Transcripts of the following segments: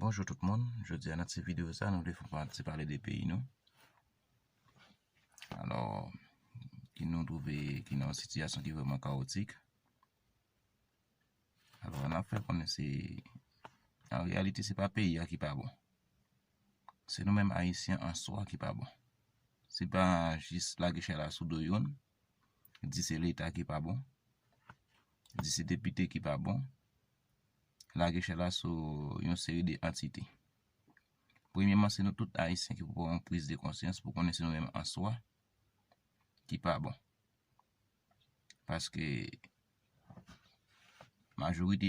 Bonjou tout moun, jodi a nan ti videyo sa nou vle fè yon ti pale de peyi nou alò ki nou twouve ki nan yon sitiyasyon ki vreman kawotik Alò nap fè konnen se an reyalite se pa peyi a ki pa bon. Se nou menm ayisyen an swa ki pa bon. Se pa jis lage chay la sou do youn, di se leta ki pa bon, di se depite ki pa bon, lage chay la sou yon seri de antite. Premyeman se nou tout ayisyen ki pou pran yon priz de konsyans pou konnen se nou menm an swa ki pa bon. paske majorite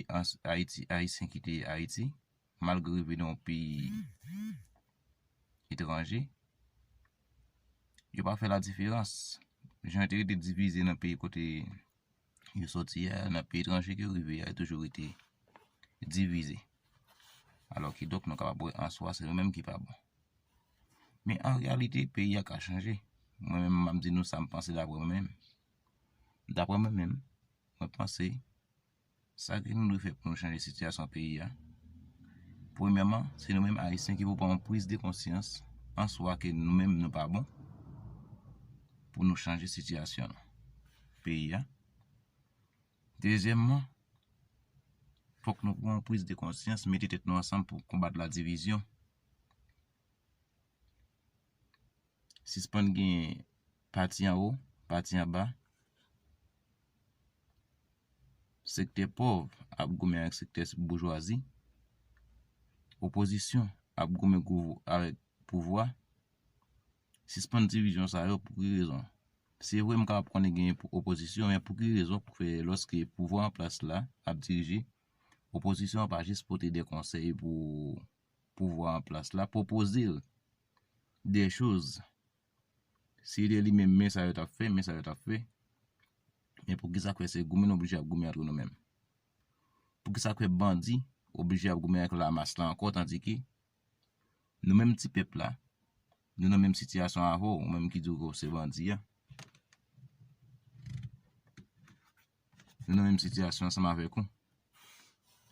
ayisyen ki te ayiti malgre yo vin yon peyi etranje yo pa fè la diferans jan yo te rete divize nan peyi kote yo soti a nan peyi etranje ke yo rive a yo toujou rete divize alò ki donk nou kapab wè answa se nou menm ki pa bon Men an reyalite peyi a ka chanje. Mwen menm m ap di nou sa m panse daprè mwen menm. Daprè mwen menm, mwen panse sa ke nou dwe fè pou nou chanje sitiyasyon peyi a, premyèman se nou menm ayisyen ki pou pran yon priz de konsyans an swa ke nou menm nou pa bon pou nou chanje sitiyasyon peyi a. Dezyèmman, fòk nou pran yon priz de konsyans mete tèt nou ansanm pou konbat ladivizyon. Sispann genyen pati anwo, pati anba. Sektè pòv ap goumen ak sektè boujwazi. Opozisyon ap goumen avèk pouvwa. Sispann divizyon sa yo pou ki rezon? Se vre m kapab konnen genyen opozisyon men pou ki rezon pou fè lòske pouvwa an plas la ap dirije, opozisyon an pa jis pote de konsèy pou pouvwa an plas la pwopoze l de choz si se te li menm men sa yo t ap fè men sa yo t ap fè men pou kisa k fè se goumen nou oblije ap goumen antre nou menm pou kisa k fè bandi oblije ap goumen ak lamas la ankò tandike nou menm ti pèp la nou nan menm sitiyasyon avè w ou menm ki di w ou se bandi a nou nan menm sitiyasyon ansanm avèk ou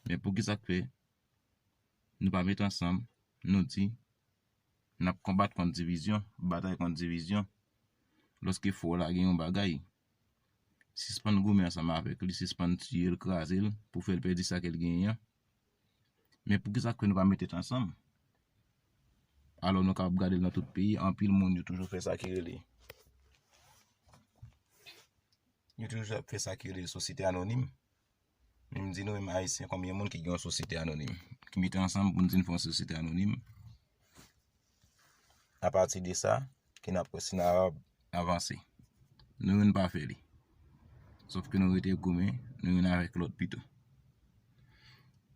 men pou kisa k fè Nou pa met ansanm, nou di, N ap konbat kont divizyon, batay kont divizyon, lòske fò w la gen yon bagay, sispann goumen ansanm avèk li, sispann tiye l, kraze l, pou fè l pèdi sa ke l genyen an. Men poukisa ke nou pa met tèt ansanm? Alò nou kapab gade l nan tout peyi, anpil moun yo toujou fè sa ki rele, yo toujou ap fè sa ki rele sosyete anonim, Men m di nou menm ayisyen konbyen moun ki gen yon sosyete anonim? Ki mete ansanm pou n di n fè yon sosyete anonim? Apati de sa, ki n ap wè si n ap avanse. Nou menm n pa fè li. Sof ke nou rete goumen, nou youn avèk lòt pito.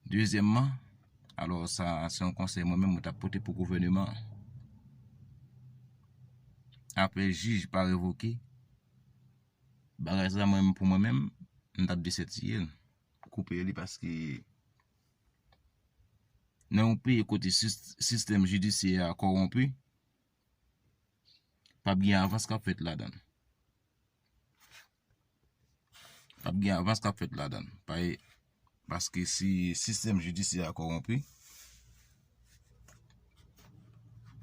Dezyèmman, alò sa se yon konsèy mwen menm mwen ta pote pou gouvèneman an. Apre jij pa revoke. Bagay sa mwen menm pou mwen menm m tap desètiyel koupe li paske nan yon peyi kote sistèm jidisyè a kòwonpi pap gen avans kap fèt ladann pap gen avans kap fèt ladann paske si sistèm jidisyè a kòwonpi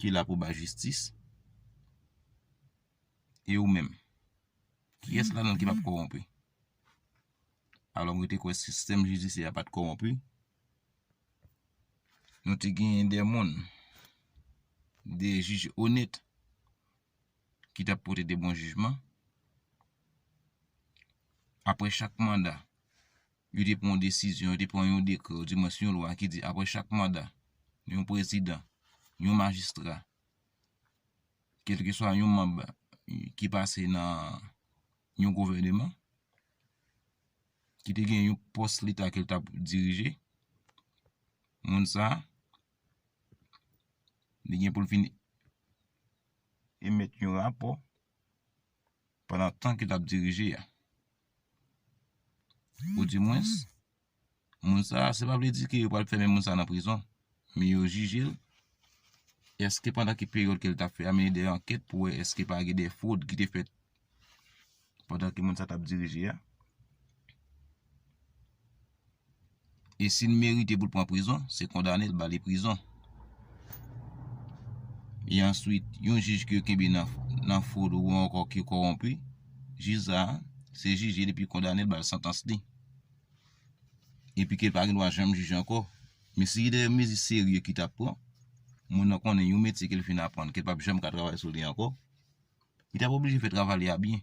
ki la pou bay jistis E ou menm? Kiyès ladan nou ki pa p kòwonpi? Alò mwen te kwè sistèm jidisyè a pa t kòwonpi. Nou te genyen de moun, de jij onèt ki t ap pote de bon jijman. Aprè chak manda, yo te pran yon desizyon, yo te pran yon dekrè, ou di mwen si yon lwa ki di aprè chak manda, yon prezidan, yon majistra, kèlkeswa yon manb ki pase nan yon gouvèneman, ki te gen yon pòs leta ke l t ap dirije, moun sa, li gen pou l vin emèt yon rapò pandan tan ke l t ap dirije a. Ou di mwens. moun sa a, se pa vle di ke yo pral fèmen moun sa a nan prizon, men yo jije l, èske pandan ki peryòd ke l t ap fè a, mennen de ankèt pou wè èske pa gen de fwod ki te fèt pandan ke moun sa a t ap dirije a, e si l merite pou l pran prizon, se kondane l, ba li prizon. E answit, yon jij ke yo kenbe nan fwod ou ankò ki kowonpi, jij sa a, se jije l epi kondane l, ba l santans li. Epi ke l pa gen dwa janm jije ankò. Men si gen de mezi serye ki ta pran, moun nan konnen yon metye ke l fin aprann ke l pap janm ka travay sou li ankò, li tap oblije fè travay li a byen.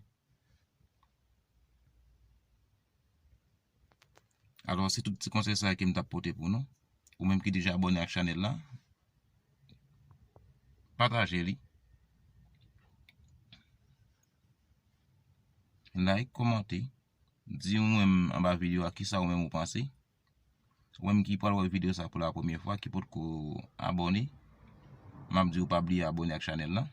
Alò se tout ti konsèy sa yo ke m tap pote pou nou. Ou menm ki deja abòne ak chanèl la, pataje li. Like, komante. Di ou menm anba video a kisa ou menm ou panse. Ou menm ki pral wè video sa pou la premye fwa ki potko abone. Map di ou pa bliye abone ak chanel la.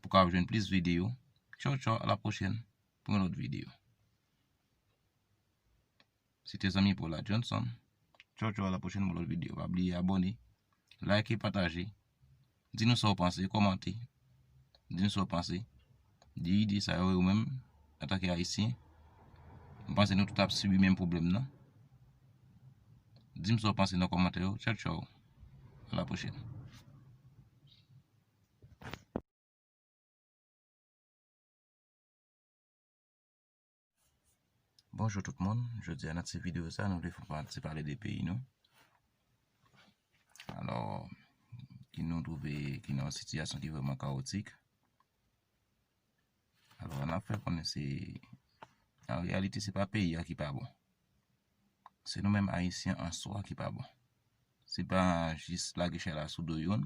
Pou ka ap jwenn plis video. Tchao tchao a la pwochen pou yon lot video. Se te zanmi Paula Johnson. Tchaw tchaw a la pwochèn pou lòt videyo. Pa bliye abòne, like, pataje. Di nou sa ou panse, kòmante. Di nou sa ou panse. Di ide sa yo ou menm antanke Ayisyen. M panse nou tout ap sibi menm pwoblèm nan. Di m sa ou panse nan kòmantè yo. Tchaw tchaw. A la pwochèn. Bonjou tout moun, jodi a nan ti videyo sa nou vle fè yon ti pale de peyi nou alò ki nou twouve ki nan yon sitiyasyon ki vrèman kawotik alò an ap fè konnen se an reyalite se pa peyi a ki pa bon se nou menm ayisyen an swa ki pa bon se pa jis lage chay la sou do youn